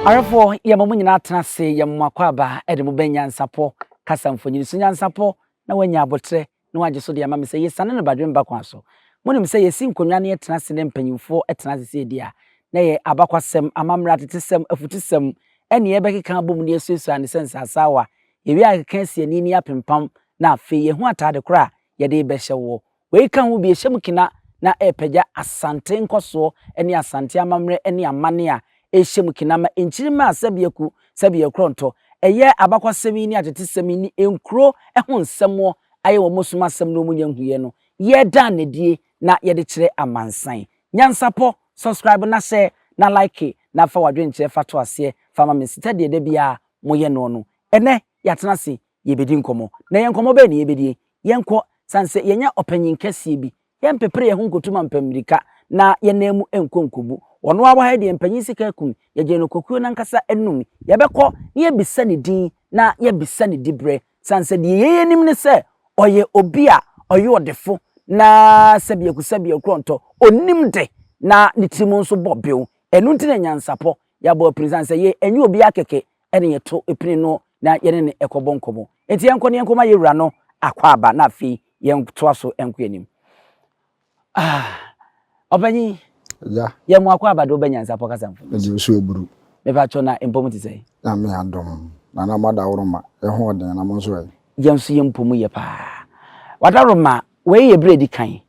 Awerɛfoɔ, yɛma mo nyinaa tena ase, yɛma mo akwaaba de mo bɛ nyansapɔ kasa mfonini so nyansapɔ na wanya aboterɛ na wagye so de ama me sɛ yesiane no badwemba kwan so. Munim sɛ yesi nkonnwa na yɛtena ase na mpanyimfo tena ase sɛ edi a, na ɛyɛ abakwasɛm, amammerɛ, atetesɛm, afutusɛm, ɛnne a yɛbɛkeka abom na yɛasuasua ano sɛ nsasaawa. Yewie a yɛkeka asi ani na yɛapempam, na afei yɛahu atade koro a yɛde rebɛhyɛ woɔ. Wei ka ho bi, ɛhyɛ mu kena na ɛrepagya Asante nkɔsoɔ ne Asante amammerɛ ne amanne a ehyɛ mu kena ma nkyirimma a sɛbea ku, sɛbea korɔntɔ, ɛyɛ, abakɔsɛm yi ne atetesɛm yi ne nkuro ho nsɛmmoɔ ayɛ wɔ mo som asɛm no mu nya nhuiɛ no yɛ daa nadie na yɛde kyerɛ amansan. Nyansapɔ, subscribe na hyɛ na like na fa wadwenkyerɛ fa to aseɛ fa ma me sɛdeɛ da biara mo yɛ noɔ no. Ɛnɛ yɛatena ase yebedi nkɔmmɔ. Na yɛn nkɔmmɔ bɛn na yebedie? Yɛnkɔ, sane sɛ yɛanya ɔpanyin kɛseɛ bi. Yɛmpepere yɛn ho nkɔtu mampɛ mmirika, na yɛn nan mu nkɔ nkɔbu. Ɔno ara wɔ ha yi deɛ mpanyin sika akum, yɛgyee no kokoɔ no ankasa anum. Yɛbɛkɔ na yɛabisa ne din, na yɛabisa ne diberɛ, sane sɛ deɛ yɛn nim ne sɛ ɔyɛ obi a ɔyɛ ɔdefo, na sɛbiakusɛbiakorɔntɔ, ɔnim de, na ne tirim nso bɔ bew. Ɛno nti na nyansapɔ, yɛabɔ apirisɛ, sane sɛ yei ɛnyɛ obiara kɛkɛ ɛne yɛto pini no na yɛne no kɔbɔ nkɔmmɔ. Enti yɛnkɔ na yɛnkɔma yɛn wura no akwaaba na afei yɛntoa so nkɔ yɛn anim. Ah, ɔpanyin, Agya. yɛ mo akwaaba de wobɛnya nsapɔ kasa mfoni. Mede osu aburu. Mepa kyɛw na mpɔ mu te sɛ. Nyame adom, na na moadaworoma, yɛ ho ɔden na mo nso ɛ? Yɛn nso yɛn mpɔ mu yɛ paa. Wadaworoma, wei yɛ bere a edi kan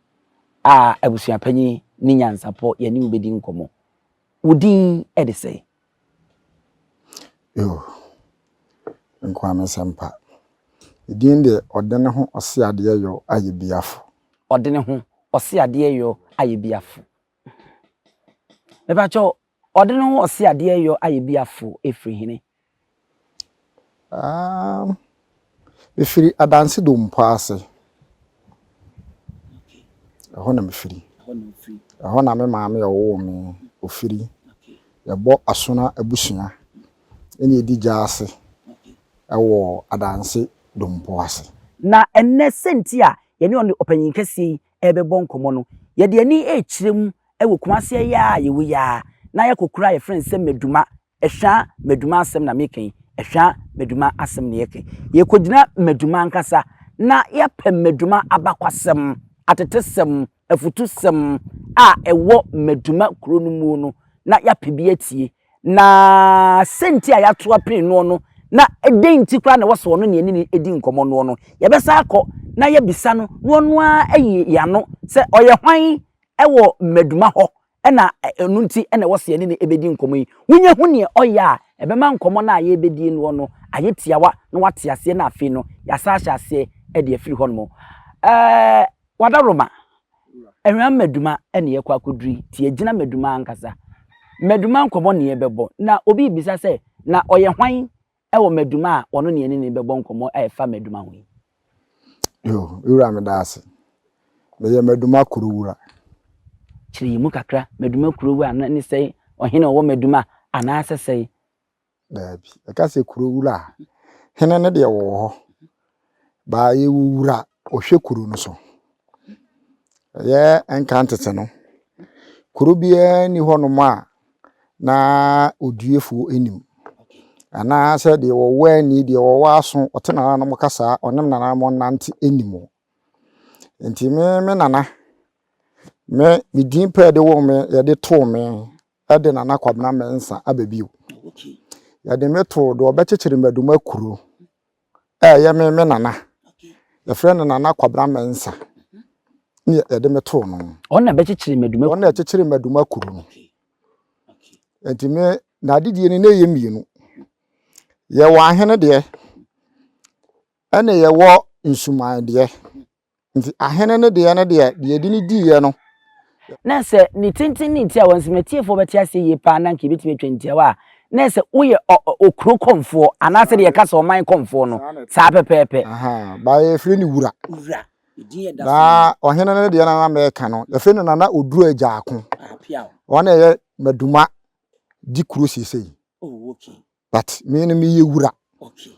a abusuapanyin ne nyansapɔ yɛne wo bedi nkɔmmɔ. Wo din de sɛ? Yoo, me nko ara me nsɛmpa. Ne din deɛ ɔde ne ho ɔse adeɛ yɔ ayɛ biafo. Ɔde ne ho ɔse adeɛ yɔ ayɛ biafo. Mepakyɛw, ɔde ne ho ɔse adeɛ yɔ ayɛ biafo ɛfiri hene? Aah, mefiri adanse dompo ase. Ɛhɔ na mefiri. Ɛhɔ na me maame a ɔwoo me ofiri. Yɛbɔ Asona abusua ɛna ɛdi gya ase ɛwɔ adanse dompo ase. Na ɛnnɛ sɛnti a yɛne ɔne ɔpanyin kɛseɛ yi ɛrebɛbɔ nkɔmmɔ no, yɛde ani ɛrekyerɛ mu ɛwɔ Kumase ɛyɛ a yɛwɔ yi ara na yɛakɔkura a yɛfrɛ no sɛ Maduma Ɛhwɛ a Maduma asɛm na meka yi, ɛhwɛ a Maduma asɛm na yɛka yi. Yɛkɔgyina Maduma ankasa na yɛpɛ Maduma abakwasɛm, atetesɛm, afutusɛm a ɛwɔ Maduma kuro no muo no na yɛapɛ bi atie. Na sɛnti a yɛato apene noɔ no na dɛn nti koraa na ɛwɔ sɛ ɔno na yɛne no di nkɔmmɔ noɔ no, yɛbɛsan akɔ na yɛabisa no na ɔno ara ayi yɛn ano sɛ ɔyɛ hwan wɔ Maduma hɔ na ɛno nti na ɛwɔ sɛ yɛne no bɛdi nkɔmmɔ yi. Wonya hu neɛ ɔyɛ a, ɛbɛma nkɔmmɔ no a yɛrebɛdie noɔ no ayɛ tiawa na wate aseɛ na afei no yɛasan ahyɛ aseɛ de afiri hɔnom. Ɛɛ Wadaroma, ɛhwan mmaduma na yɛkɔ akɔduru yi? Ti agyina mmaduma ankasa. Mmaduma nkɔmmɔ na yɛbɛbɔ. Na obi rebisa sɛ, na ɔyɛ hwan wɔ Maduma a wɔne ne anini bɛbɔ nkɔmmɔ a ɛfa Maduma ho yi. Yo, me wura meda ase. Meyɛ Maduma kuro wura. Kyerɛ yɛn mu kakra, Maduma kuro wura no ne sɛn? Ɔhene ɔwɔ Maduma anaasɛ sɛn? Daabi, yɛka sɛ kuro wura a, hene no deɛ ɔwɔ hɔ baa yɛ wo wura ɔhwɛ kuro no so yɛ nka ntete no kuro biara ni hɔ nom a na ɔdiefoɔ nim anaa sɛ deɛ wɔwɔ ani deɛ wɔwɔ aso ɔte nana nom kasa ɔne nana nom nante nim o nti me me nana me me din pɛɛ de wɔ me yɛde too me ɛde nana kwabena mɛnsa aba bio yɛde me too deɛ ɔbɛkyekyere mmaduma kuro Ɛyɛ me me nana. Yɛfrɛ no Nana Kwabena Mensah. Ne yɛde me too no. Ɔno na bɛkyekyere Maduma Ɔno na ɛkyekyere Maduma kuro no. Nti me n'adedie no na ɛyɛ mmienu. Yɛwɔ ahene deɛ, ɛna yɛwɔ nsuman deɛ. Nti ahene no deɛ no deɛ, deɛ yɛde no diiɛ no. Na sɛ ne tenten ne ntiawa nso, m'atiefoɔ bɛte aseɛ yie pa ara na anka yɛbɛtumi atwa ntiawa a, na ɛyɛ sɛ woyɛ ɔ, ɔ, okuro kɔmfoɔ, anaa sɛdeɛ yɛka sɛ ɔman kɔmfoɔ no, saa pɛpɛɛpɛ. Ahaa, baa yɛfrɛ no Wura. Wura, ne din yɛ Daso Nana. Na ɔhene no deɛ no a na mɛka no, yɛfrɛ no Nana Oduo Agyaako. Aha, Piaw. Ɔno na ɛyɛ Maduma di kuro seesei. Oh, okay. But me no meyɛ Wura. Okay.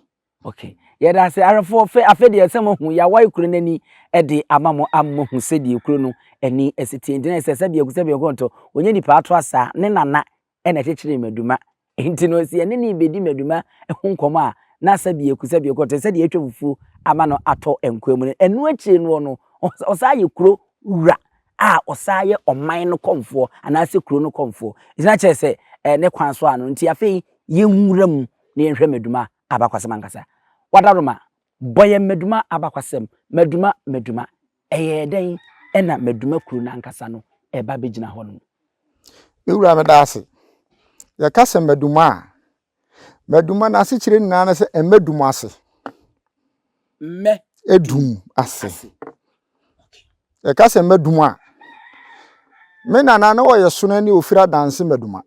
Ok, yɛda ase ara fo fɛ afɛ deɛ sɛ mo hu yawai kuro n'ani ɛde ama mo ama mo hu sɛ deɛ kuro no ɛni ɛsi tie ntina ɛsɛ sɛ biaku sɛ biaku nto onye nipa ato asa ne nana ɛna ɛkyekyere maduma nti no sɛ yɛne ne bɛdi maduma ho nkɔmɔ a na sɛ biaku sɛ biaku nto sɛ deɛ atwa fufuo ama no atɔ nkoa mu no ɛno akyire no no ɔsaa yɛ kuro wura a ɔsaa yɛ ɔman no kɔmfoɔ anaasɛ kuro no kɔmfoɔ ɛgyina kyerɛ sɛ ɛɛ ne kwan so ano nti afei yɛnwura mu na yɛnhwɛ Maduma abakwasɛm ankasa. Wada Roma, bɔ yɛn Maduma abakwasɛm, Maduma, Maduma. Ɛyɛɛ dɛn na Maduma kuro no ankasa no ba bɛgyina hɔ nom? Me wura meda ase. Yɛka sɛ Maduma a, Maduma n'asekyerɛ nyinaa ne sɛ mmɛ dum ase. Mmɛ. Edum ase. Yɛka sɛ Maduma a, me nana na ɔyɛ Sono ne Ofira Danse Maduma.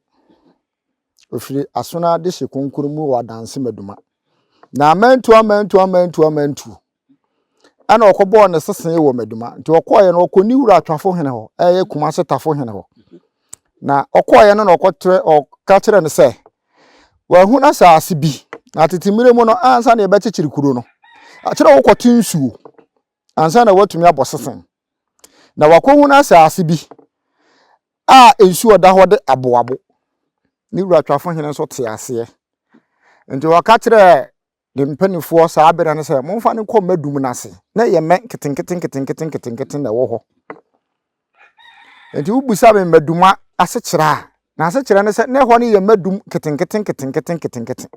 Ofiri aso no ara de hyɛ konkono mu wɔ adanse maduma. Na amantuo amantuo amantuo amantuo ɛna ɔkɔbɔɔ ne sesee wɔ maduma. Nti ɔkɔɔeɛ no ɔkɔ ne wura atwafo hene hɔ ɛyɛ Kumase tafo hene hɔ. Na ɔkɔɔeɛ no na ɔkɔtrɛ ɔka kyerɛ no sɛ wahunu asaase bi na tete mmerɛ mu no ansa na yɛbɛkyekyere kuro no akyerɛ wokɔte nsuo ansa na watumi abɔ sesen, na wakɔhunu asase bi a nsuo ɔda hɔ de aboabo. Ne wura twafo hene nso te aseɛ. Nti ɔka kyerɛɛ ne mpanimfoɔ saa berɛ no sɛ, momfa no nkɔ mɛ dum no ase, na ɛyɛ mɛ nketenkete nketenkete nketenkete na ɛwɔ hɔ. Nti wobisa me mmaduma asekyerɛ a, n'asekyerɛ ne sɛ, na ɛhɔ no yɛ mmadum nketenkete nketenkete nketenkete.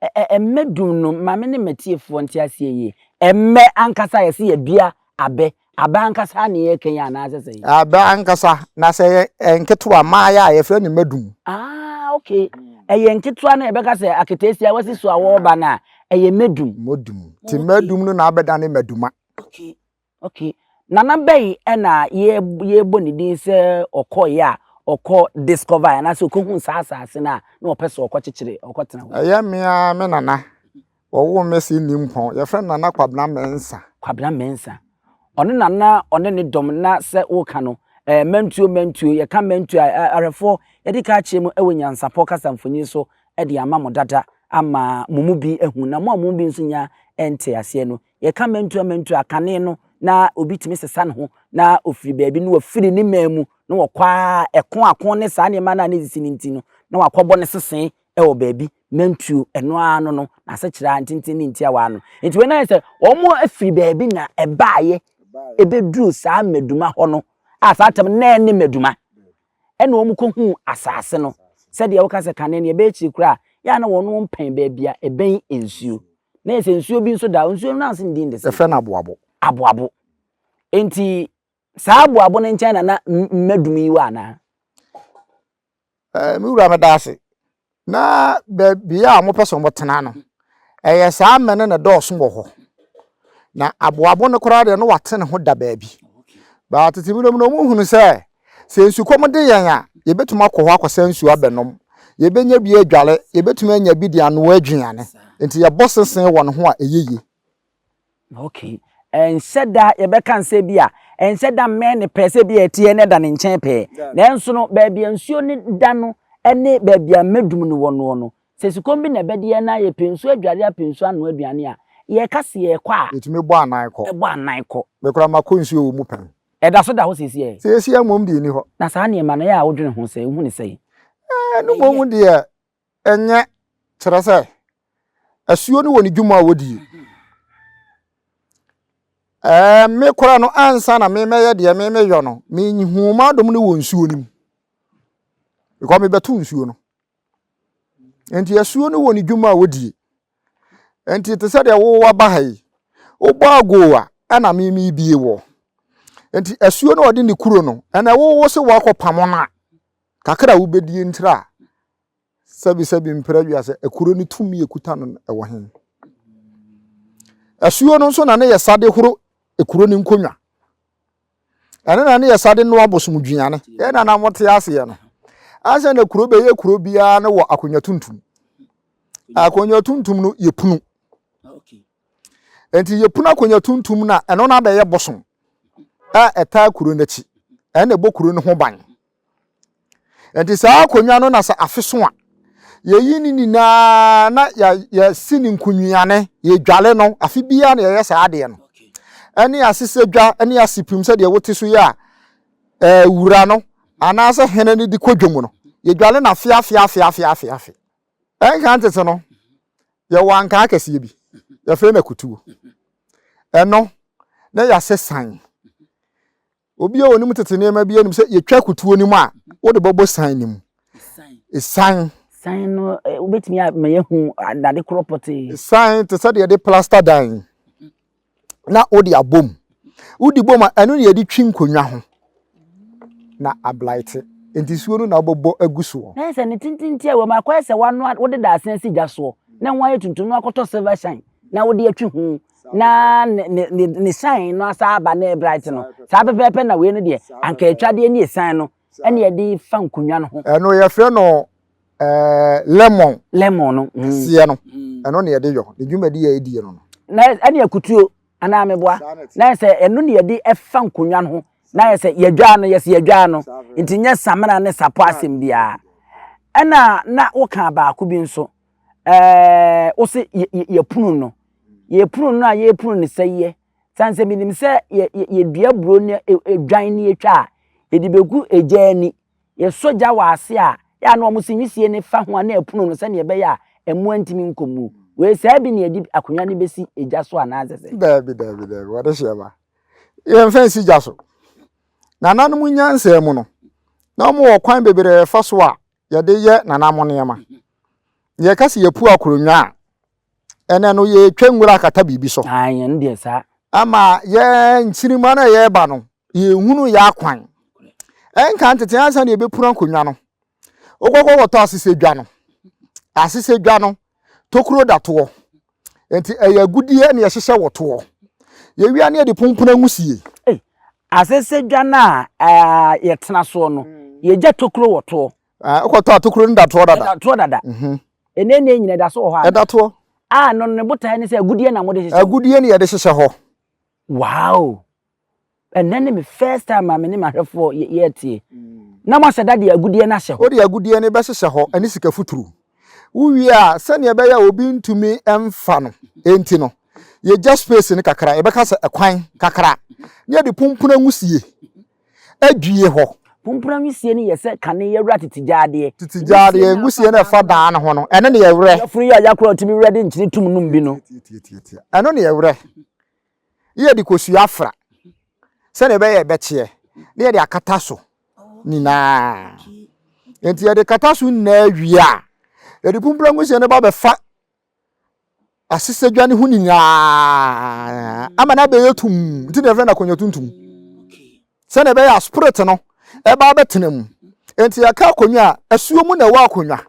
Ɛ-ɛ-ɛ mmɛ dum no ma me ne m'atiefoɔ nte aseɛ yie. Ɛmmɛ ankasa yɛse yɛadua abɛ. Abɛ ankasa ara na yɛreka yi anaasɛ sɛn? Abɛ ankasa, na sɛ ɛyɛ ɛyɛ nketewa, mmaeɛ a, yɛfrɛ no mmɛ dum. Ah, okay. Ɛyɛ nketewa no a yɛbɛka sɛ aketeesia a wasi so a wɔreba no a, ɛyɛ mmɛ dum. Mmɛ dum. Nti mmɛ dum no na abɛdane mmɛ duma. Okay. Ok Nana bɛyi ɛna yɛbɔ ne din sɛ ɔkɔeɛ a ɔkɔ discover anaasɛ ɔkɔhu saa asase no a na ɔpɛ sɛ ɔkɔkyekyere ɔkɔtena hɔ. Ɛyɛ me ara me nana. Wɔwoo me sɛ nni mpɔn. Yɛfrɛ no Nana Kwabena Mensah. Kwabena Mensah. Ɔno na na ɔne ne dɔm na sɛ woka no eh, mantuo mantuo, yɛka mantuo a eh, ahwɛfoɔ yɛde ka akyerɛ mu wɔ Nyansapɔ kasa mfonyin so de ama mo dada ama mo mu bi ahu na mo a mo mu bi nso nya nte aseɛ no Yɛka mɛntu a mɛntu a, kane no na obi tumi sesa ne ho na ofiri baabi na wafiri ne man mu na wɔkɔ ara ɛko ako ne saa nneɛma no a ne sisi no nti no na wakɔbɔ ne sese wɔ baabi mɛntuo ɛno ara no no na asekyerɛ ntenten ne ntia waa no nti wei na sɛ wɔn afiri baabi na ɛbaayɛ ɛbɛduru saa mmaduma hɔ no a saa tam na ɛne mmaduma ɛna wɔn kɔ hu asase no sɛdeɛ woka sɛ kane no ɛbɛyɛ kyiri koraa yɛ a na wɔn mpɛn baabi a ɛbɛn nsuo na yɛ sɛ nsuo bi nso da nsuo no ase ndin de sɛ ɛfrɛ no aboabo aboabo nti saa aboabo no nkyɛn na na mmadum yi wɔ anaa ɛɛ me wura meda ase Na baabiara a wɔpɛ sɛ wɔtena no, ɛyɛ saa mmɛ no na ɛdɔɔso wɔ hɔ. Na aboabo no koraa deɛ no wate ne ho da baabi. Baa tete mu nom no, wɔhunu sɛ sɛ nsukɔm de yɛn a, yɛbɛtumi akɔ hɔ akɔsa nsuo abɛnom. Yɛbɛnya bi adware, yɛbɛtumi anya bi de anoa aduane. Nti yɛbɔ sesee wɔ ne ho a ɛyɛ yie. Okay, ɛnhyɛ da yɛbɛka nsɛ bi a ɛnhyɛ da mmɛn ne pɛɛ sɛ bi a ɛteɛ na ɛda ne nkyɛn pɛɛ. Nanso no, baabi a nsuo no da no ne baabi a mmɛdum no wɔ noɔ no, sɛ sukɔm bi na ɛbɛde yɛn na yɛpɛ nsuo adware apɛ nsuo anoa aduane a, yɛka sɛ yɛrekɔ a. Yɛtumi bɔ anan kɔ. Bɔ anan kɔ. Me koraa makɔ nsuo wɔ mu pɛn. Ɛda so da hɔ seesei ɛ? Seesei mmom deɛ ɛnni hɔ. Na saa nneɛma no, yɛ a wodwene ho sɛn? Wohu no sɛn? Ɛɛ, ɛno mmom deɛ, Ɛnyɛ, kyerɛ sɛ, asuo no wɔ ne dwuma a wɔdie. Ɛɛ, me koraa no, ansa na memɛyɛ deɛ memeyɔ no, mehuu m'adom no wɔ nsuo no mu. Because mebɛto nsuo no. Nti asuo no wɔ ne dwuma a wɔdie. Nti te sɛ deɛ wo waba ha yi, wobɔ agoo a, ɛna memebie wɔ. Nti asuo no ɔde ne kuro no, ɛna wowo se wakɔpamo no a, Kakra a wobedie ntra a sɛbi sɛbi mpra wiase ɛkoro ne tumi ekuta no no ɛwɔ he? Asuo no nso na ne yɛ sa de horo ɛkuro ne nkonwa. Ɛne na ne yɛ sa de noa bosom duane. Yɛn na na mote aseɛ no, ansa na kuro bɛyɛ kuro biara no wɔ akonwa tuntum. Akonwa tuntum no yɛ punu. Nti yɛ punu akonwa tuntum na ɛno na bɛyɛ bosom a ɛtaa kuro n'akyi. Ɛne ɛbɔ kuro no ho ban. Ɛnti saa akonnwa no na sɛ afe so a, yɛyi ne nyinaa na yɛsi ne nkonwiane, yɛdwale no, afe biara na yɛyɛ saa adeɛ no. Ɛne asesɛ dwa, ɛne asepim sɛdeɛ wote so yi a, ɛɛ wura no, anaasɛ hene no de kɔ dwom no, yɛdwale no afe afe afe afe afe afe. Ɛnka ntete no, yɛwɔ ankaa kɛseɛ bi, yɛfrɛ no akutuo. Ɛno, na yɛasɛ san. Obi a ɔnim tete nneɛma bi anim sɛ yɛtwa akutuo no mu a, wode bɛbɔ san no mu. San. San no, eh, wobɛtumi ama yɛahu adade korɔ pɔtee. San te sɛ deɛ yɛde plasta dan na wode abom. Wodi bom a, ɛno na yɛde twi nkonnwa ho na ablaete. Nti suo no na wobɛbɔ agu soɔ. Na sɛ ne tintinti a wɔm akɔyɛ sɛ wanoa wode daasena si gya soɔ na ho ayɛ tuntum na wakɔtɔ silver shine na wode atwi ho na ne ne ne ne sign no asa aba ne bright no saa pɛpɛɛpɛ na wei no deɛ anka atwadeɛ ne sign no ɛna yɛde fa nkonnwa no ho. ɛno yɛfrɛ no ɛɛ lemon. lemon no. Mm. kɛseɛ no mm. ɛno na yɛde yɔ ne dwumadi yɛ edie no no. na ɛne akutuo anaa meboa na yɛ sɛ ɛno na yɛde ɛfa nkonnwa no ho na yɛ sɛ yɛdwaa no yɛ sɛ yɛdwaa no nti nyɛ samina ne sapɔ asɛm biara ɛna na woka baako bi nso. ɛɛ wo se yɛpono no yɛpono no a yɛpono no sɛ yɛ sane sɛ menim sɛ yɛdua buro ne dwan ne yɛtwa a yɛde bɛgu agya ani yɛsɔ gya wɔ ase a yɛ na wɔn se nwisie ne fa ho a na ɛpono no sɛdeɛ ɛbɛyɛ a ɛmoa ntumi nkɔ mu wei saa bi na yɛde akonnwa no bɛsi gya so anaasɛ sɛ daabi daabi daabi wɔde hyɛ ma yɛmfa nsi gya so nananom nyansa mu no na wɔwɔ kwan bebree fa so a yɛde yɛ nanamo nneɛma. Yɛka sɛ yɛpu akoronwa a, ɛnɛ no yɛtwa nwura akata biribi so. Ɛno deɛ saa. Ama yɛ nkyirima no a yɛreba no, yɛhunu yɛ akwan. Ɛnka ntete ansa na yɛbɛpunu akonnwa no. Wokɔkɔ wɔtɔ asesɛdwa no. Asesɛdwa no, Tokuro da toɔ. Nti ɛyɛ agudeɛ na yɛhyehyɛ wɔ toɔ. Yɛwie a na yɛde pompona nwusie. Ei, asese dwa no a ɛɛ yɛtena soɔ no, yɛgya tokuro wɔ toɔ. Ɛɛ, wokɔtɔ a tokuro no da toɔ dada. Ɛda toɔ dada. Mhm. Ɛnɛ nne nyina ɛda so wɔ hɔ a. Ɛda toɔ. A no ne botaeɛ ne sɛ agudeɛ na mode hyehyɛ hɔ. Agudeɛ na yɛde hyehyɛ hɔ. Wow! Ɛnnɛ ne me first time a me ne m'ahwɛfoɔ yɛretie. Na moasɛ da de agudeɛ no ahyɛ hɔ. Wode agudeɛ no bɛhyehyɛ hɔ ne sika futuro. Wowie a, sɛdeɛ ɛbɛyɛ a obi ntumi mfa no nti no, yɛgya space no kakra, yɛbɛka sɛ ɛkwan kakra, na yɛde pumpuna nwisie adwie hɔ. Pumpuna nwisie no yɛ sɛ kane yɛwura tete gyadeɛ. Tete gyadeɛ nwisie no ɛfa dan no ho no, ɛno na yɛwurɛ. Yafunu yi a yakorɔ a yɛtumi wurɛ de nkyene tum nom bi no. Tiatiatia. Ɛno na yɛwurɛ. ne yɛde kosua afra sɛdeɛ ɛbɛyɛ ɛbɛkyeɛ ne yɛde akata so nyinaa nti yɛde kata so nyinaa wie a yɛde pumprangu hyɛ no ba bɛfa asesadwa no ho nyinaa ama no abɛyɛ tum nti na yɛfrɛ no akonnwa tuntum sɛdeɛ ɛbɛyɛ a spirit no ɛba bɛtena mu nti yɛka akonnwa a asuo mu na ɛwɔ akonnwa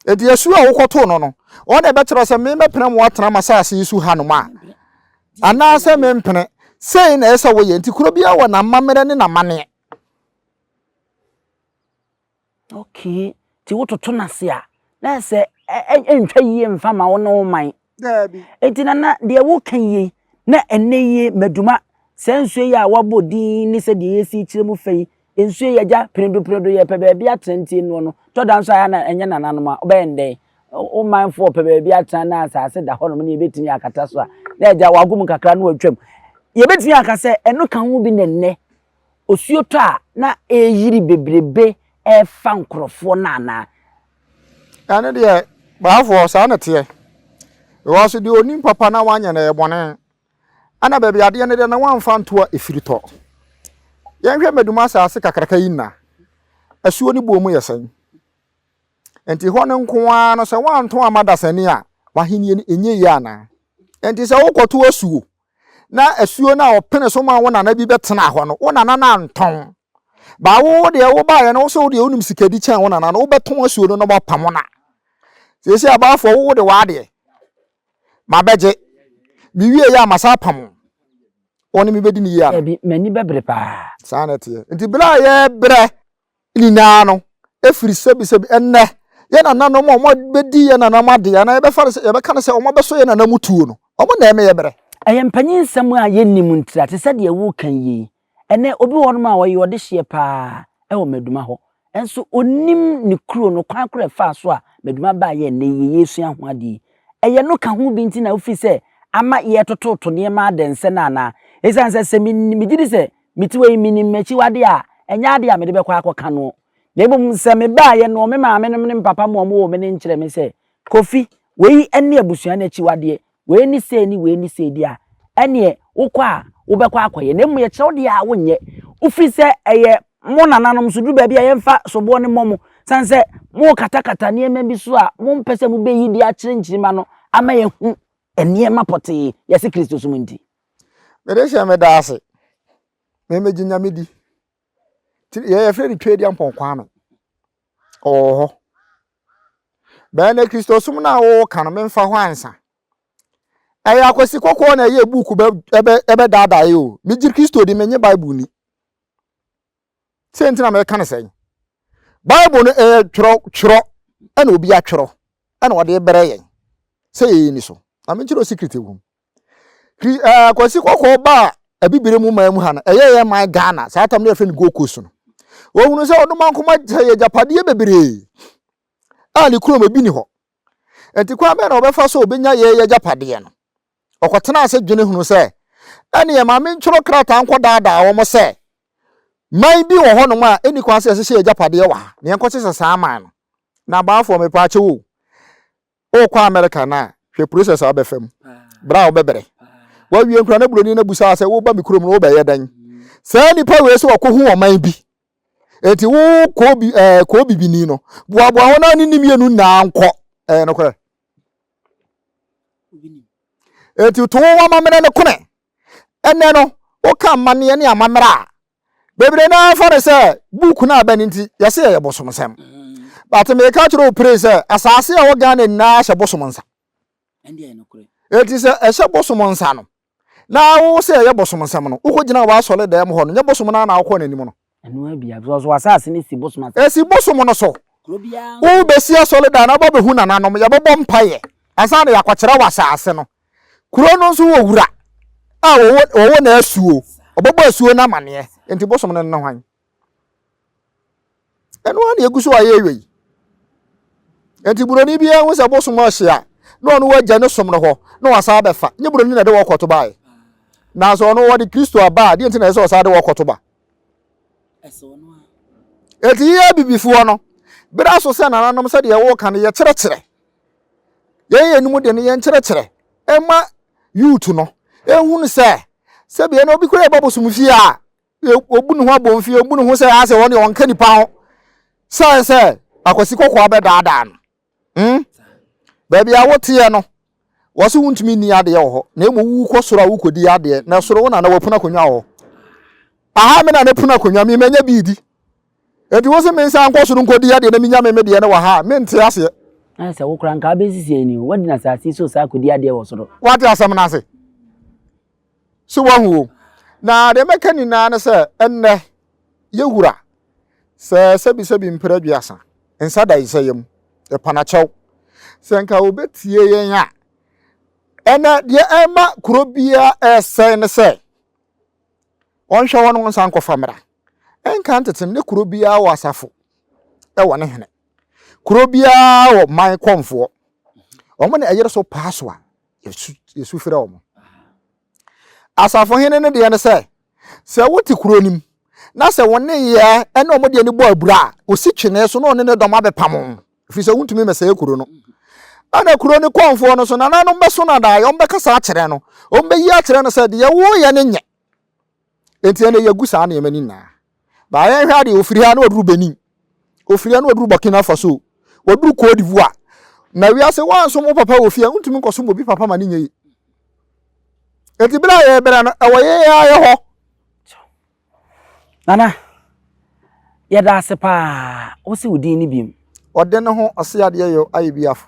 Enti asu a wokɔtoo no no, wɔn na ɛbɛkyerɛ sɛ memɛpene mo atena m'asase yi so hanom a, anaasɛ mempene. Sei na ɛsɛ sɛ woyɛ. Enti kuro biara wɔ n'amammerɛ ne n'amanneɛ. Okay, nti wototo no ase a, na ɛsɛ sɛ ɛntwa yie mfa ma wo ne wo man. Daabi. Enti nana deɛ woka yi yei na ɛnɛ yie maduma saa nsuo yi a wabɔ din ne sɛ deɛ yɛsi kyerɛ mu fɛ yi nsuo yi agya penedo penedo yɛpɛ baabi atena nti ɛnoɔ no tɔ da nso ayɛ na ɛnyɛ nananom a wobɛyɛ ndɛn wo manfoɔ pɛ baabi atena na asase da hɔnom ne yɛbɛtumi akata so a na agya wagom kakra na watwam yɛbɛtumi aka sɛ ɛno ka ho bi na ɛnɛ osuotɔ a na ɛreyiri bebrebe refa nkurɔfoɔ no anaa? Ɛno deɛ baafoɔ saa na ɛteɛ because deɛ onim papa na wanyɛ no ɛyɛ bɔne ɛna baabi adeɛ no deɛ na wamfa ntoa ɛfiri tɔ yɛnhwɛ mmadum asase kakraka yi nna asuo no buo mu yɛ sɛn nti hɔ no nko ara no sɛ wanto ama dasani a wahennie no ɛnyɛ yie anaa nti sɛ wokɔto asuo na asuo no a ɔpene so ma wo nana bi bɛtena hɔ no wo nana no antɔn baa wo deɛ wobaeɛ no wo sɛ wo deɛ wonim sikadi kyɛn wo nana no wobɛtɔn asuo no na wɔapamo no a seesei abaafoɔ wo wode w'adeɛ mabɛgye mewie yɛ a masa apamo wɔne mebɛdi ne yie ano Dabi, m'ani bɛbere paa. saa na ɛteɛ nti berɛ a yɛbrɛ nyinaa no ɛfiri sɛbisɛbi ɛnnɛ yɛ nananom a wɔbɛdi yɛ nananom adeɛ anaa yɛbɛfa no sɛ yɛbɛka no sɛ wɔabɛsɔ yɛ nananom tuo no wɔn na ɛmeyɛ berɛ. Ɛyɛ mpanyin nsɛm a yɛnnim ntira te sɛ deɛ woreka yie yi. Ɛnnɛ obi wɔ hɔnom a ɔyɛ ɔdehyeɛ pa ara wɔ Maduma hɔ nso ɔnnim ne kuro no kwan korɔ a ɛfaa so a Maduma baeɛ ɛnnɛ yi yɛresua ho adeɛ yi. Ɛyɛ no ka ho bi nti na wofiri sɛ ama yɛretototo nneɛma adɛnsɛ no anaa? Ɛsiane sɛ sɛ me megye di sɛ Mete hɔ yi, minim m'akyiwade a, ɛnyɛ ade a mede bɛkɔ akɔka no, na mmom sɛ mebaeɛ no, me maamenom ne me papa mo a wɔwoo me no nkyerɛ me sɛ, Kofi, wei ne abusua no akyiwadeɛ, wei ne sei ne wei ne sei deɛ a, ɛnneɛ wokɔ a, wobɛkɔ akɔyɛ, na mmom yɛkyerɛ wo deɛ a, wonyɛ. Wofiri sɛ ɛyɛ mo nananom so, duru baabi a yɛmfa soboɔ no mmɔ mo, sane sɛ morekatakata nneɛma bi so a mompɛ sɛ mobɛyi de akyerɛ nkyirimma no ama yɛahu nneɛma pɔtee, yɛse Kristosom nti. Mede hyɛ meda ase. Me megye Nyame di. Nti yɛ yɛfrɛ no Tweduampɔn Kwame. Ɔwɔ hɔ. Bɛyɛ na Kristosom no a woka no memfa ho ansa. Ɛyɛ akwasi kɔkɔɔ na ɛyɛ buuku ɛbɛdaadaa yɛ o. Megye Kristo di, menye Bible ni. sɛ nti na mɛka no sɛn bible no ɛyɛ twerɛ twerɛ ɛna obi atwerɛ ɛna ɔde brɛ yɛn sɛ yɛyɛ ni so na menkyerɛ secret ɛwɔ mu kri ɛɛ kwasi kɔkɔɔ ba a abibire mu man mu ha no ɛyɛ yɛ man ghana saa tam no yɛfrɛ no gold coast no wɔhunu sɛ ɔno man koma sɛ yɛ agyapadeɛ bebree a ne kurom ebi ni hɔ nti kwan bɛn na ɔbɛfa so ɔbɛnya yɛ yɛ agyapadeɛ no Ɔkɔtenaa ase dwene hunuu sɛ, Ɛnneɛ ma mentwerɛ krataa nkɔdaadaa wɔn sɛ, 'Man bi wɔ hɔnom a ɛnni kwan sɛ yɛhyehyɛ yɛn agyapadeɛ wɔ ha, na yɛnkɔhyehyɛ saa man no. Na abaafoɔ, mepɛ akyɛw o, worekɔ Amerika no a, hwɛ process a wobɛfa mu, berɛ a wobɛbrɛ. Wawie nkura no aburoni no abusaa sɛ, Woreba me kurom no, wobɛyɛ dɛn? Saa nnipa wei sɛ wɔkɔhu ɔman bi Enti wo koobi ɛɛ eh, koobibini no, boaboa wɔn a ne ne mmienu nyinaa nkɔ. Ɛyɛ eh, nokorɛ. Enti to wo amammerɛ no kone. Ɛnɛ no, woka amanneɛ ne amammerɛ a, bebree no ara fa no sɛ buuku no a bɛn nti, yɛse ɛyɛ bosomsɛm. But meka kyerɛ wo pere sɛ asase a ɛwɔ Ghana nyinaa hyɛ bosom nsa. Enti sɛ ɛhyɛ bosom nsa no, Na wo sɛ ɛyɛ bosom nsɛm no, wokɔ gyinaa w'asɔre dɛm hɔ no, nyɛ bosom no ara na wokɔɔ n'anim no. Ɛno ara bi a, because wɔ asase no si bosom asase. Ɛsi bosom no so. Wo bɛsi asɔre dan no, wobɛ bɛhu nananom, yɛ bɛbɔ mpaeɛ, ansa na yɛakɔ kyerɛ wɔ asase no. Kuro no nso wɔ wura a wɔwɔ na asuo, wɔbɛbɔ asuo no amaneɛ, nti bosom no ne hwan? Ɛno ara na ɛgu so ayɛ awie yi. Nti buroni biara ho sɛ bosom ɔhye a na ɔno wagya ne som no hɔ na wasan abɛfa. Nye buroni na ɛde wɔkɔto baeɛ. Nanso ɔno wɔde Kristo aba a deɛ nti na ɛsɛ sɛ ɔsan de wɔkɔto ba. Eti yɛ abibifoɔ no, bere aso sɛ nananom sɛdeɛ wɔka no yɛkyerɛkyerɛ. Yɛyɛ yɛn mu de no yɛn kyerɛkyerɛ ɛma youth no ehunu sɛ sɛbi ɛna obi kura ɛba bosom fie a obu ne ho abɔmfie obu ne ho sɛ asɛ wɔn deɛ ɔnka nipa ho sɛ sɛ akwasi kɔkɔɔ abɛdaadaa no hmm baabi a woteɛ no wɔsi wontumi ni adeɛ wɔ hɔ na emu wukɔ soro a wukɔdi adeɛ na soro wo na na wɔpuna akonnwa wɔ hɔ aha me na ne puna akonnwa me manya bi di eti wosi me nsa nkɔ soro nkɔdi adeɛ na menya me me deɛ no wɔ ha me nte aseɛ. ayɛ sɛ wokora nka wobɛsisi ani o wadi na asase so saa akɔdi adeɛ wɔ soro. wate asɛm no ase. so wahu o na deɛ mɛka nyinaa ne sɛ ɛnnɛ yɛwura sɛ sɛbisɛbi mpere aduasa nsa da nsa yam ɛpanakyɛw sɛ nka wɔbɛtie yɛn a ɛnɛ deɛ ɛma kuro biara ɛresɛe ne sɛ wɔnhwɛ hɔ no nsa nkɔfa mmara ɛnka ntetem ne kuro biara wɔ asafo ɛwɔ ne hene kuro biara wɔ man kɔmfoɔ wɔn na ɛyere so paa so a yɛsu yɛsu frɛ wɔn asafohene no deɛ no sɛ sɛ wote kuro no mu na sɛ wɔn ne yɛ ɛne wɔn deɛ no bɔ abura a osi twene so na ɔne ne dɔm abɛpam wɔn ɛfiri sɛ wontumi mmɛsɛe kuro no ɛna kuro no kɔnfoɔ no so nananom bɛso no adaeɛ wɔn bɛkasa akyerɛ no wɔn bɛyi akyerɛ no sɛ deɛ woyɛ no nyɛ Enti ɛnna yɛgu saa nneɛma no nyinaa. Baa yɛnhwɛ adeɛ, wɔfiri ha na wɔduru Benin. Wɔfiri ha na wɔduru Burkina Faso. Wɔduru Cote d'Ivoire. Na wiase wɔansom wo papa wɔ fie a, wontumi nkɔsom obi papa ma no nyɛ yie. Enti berɛ a yɛbrɛ no, ɛwɔ yɛn yɛn ara yɛ hɔ. Nana, yɛda ase paa. Wosi wo din no biom. Ɔde ne ho ɔse adeɛ yɔ ayɛ biafo.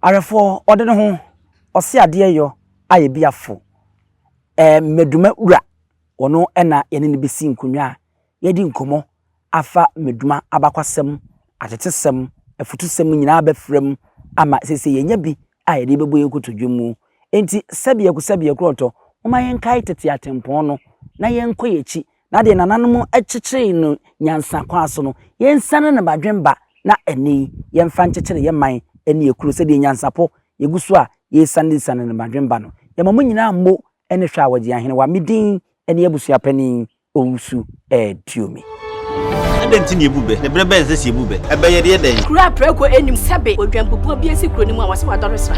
Awɛfoɔ, ɔde ne ho ɔse adeɛ yɔ ayɛ biafo. eh, Meduma wura, ɔno na yɛne no bɛsi nkonnwa a yɛadi nkɔmmɔ afa Meduma abakwasɛm, atetesɛm, afutusɛm nyinaa bɛfra mu ama sese yɛnya bi a yɛde bɛbɔ yɛn kotodwe mu. Enti sɛbiako sɛbiako ɔtɔ, momma yɛnkae tete atempɔn no na yɛnkɔ yɛn akyi na deɛ nananom kyekyeree no nyansa kwan so no, yɛnsiane ne badwen ba na ɛnnɛ yi yɛmfa nkyekyere yɛn man ne yɛn kuro sɛdeɛ nyansapɔ yɛgu so a yɛresianesiane ne badwen ba no. Yɛma mo nyinaa mmo ne hwɛ a wɔgye Ahenewa. Me din ne Abusua Panin Owusu Aduomi. Adɛn nti na yɛbu bɛ? Ne berɛ bɛn sɛ sɛ yɛbu bɛ? Ɛbɛ yɛdeɛ dɛn? Kuro a prɛko nnim sɛbe odwanbubuo bi asi kuro no mu a wɔse wadɔre sra.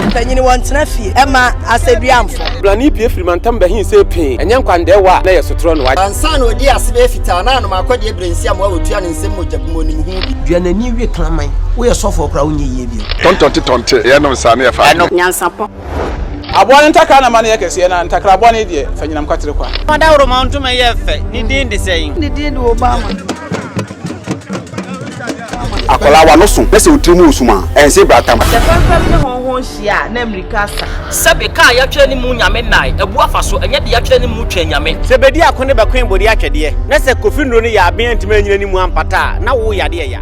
Mpanyin wɔ ntena fie ɛma asɛduamfo. Brane pie firi mantam bɛhen se pee. Ɛnyɛ nkwandaɛ wɔ a na ɛyɛ sotorɔ no. Ansa na ɔdii ase bɛyɛ fitaa na anom akɔ deɛ berɛ nsi amoa ɔtua ne nsam mogya bi mu ɔnim ho bi. Dua n'ani we kraman. Woyɛ sɔfoɔ koraa wonyɛ yie bio. Tɔntɔnte tɔnte yɛ nom saa na yɛ fa adwene. Nyansapɔ. Aboa no ntakra na ma no yɛ kɛseɛ na ntakra aboa no yi deɛ fa nyinam kwatere kwa. Fa dawuroma ntoma yɛ fɛ, ne din de sɛn? Ne din de Obama. Akwadaa wa no so na sɛ otiri mu wɔ sum a, ɛnse bra tam. Sɛ fɛmfɛm ne hɔnhɔn hyia a, na mmirika asa. Sɛbe kaa yɛatwerɛ ne mu nyame nnae, abu afa so, ɛnyɛ de yɛatwerɛ ne mu twɛn nyame. Sɛ bedi ako ne bɛkoe bode atwɛdeɛ, na sɛ kofi nnuro ne yaaben antumi anyina ne mu ampata a, na wo yade ɛya.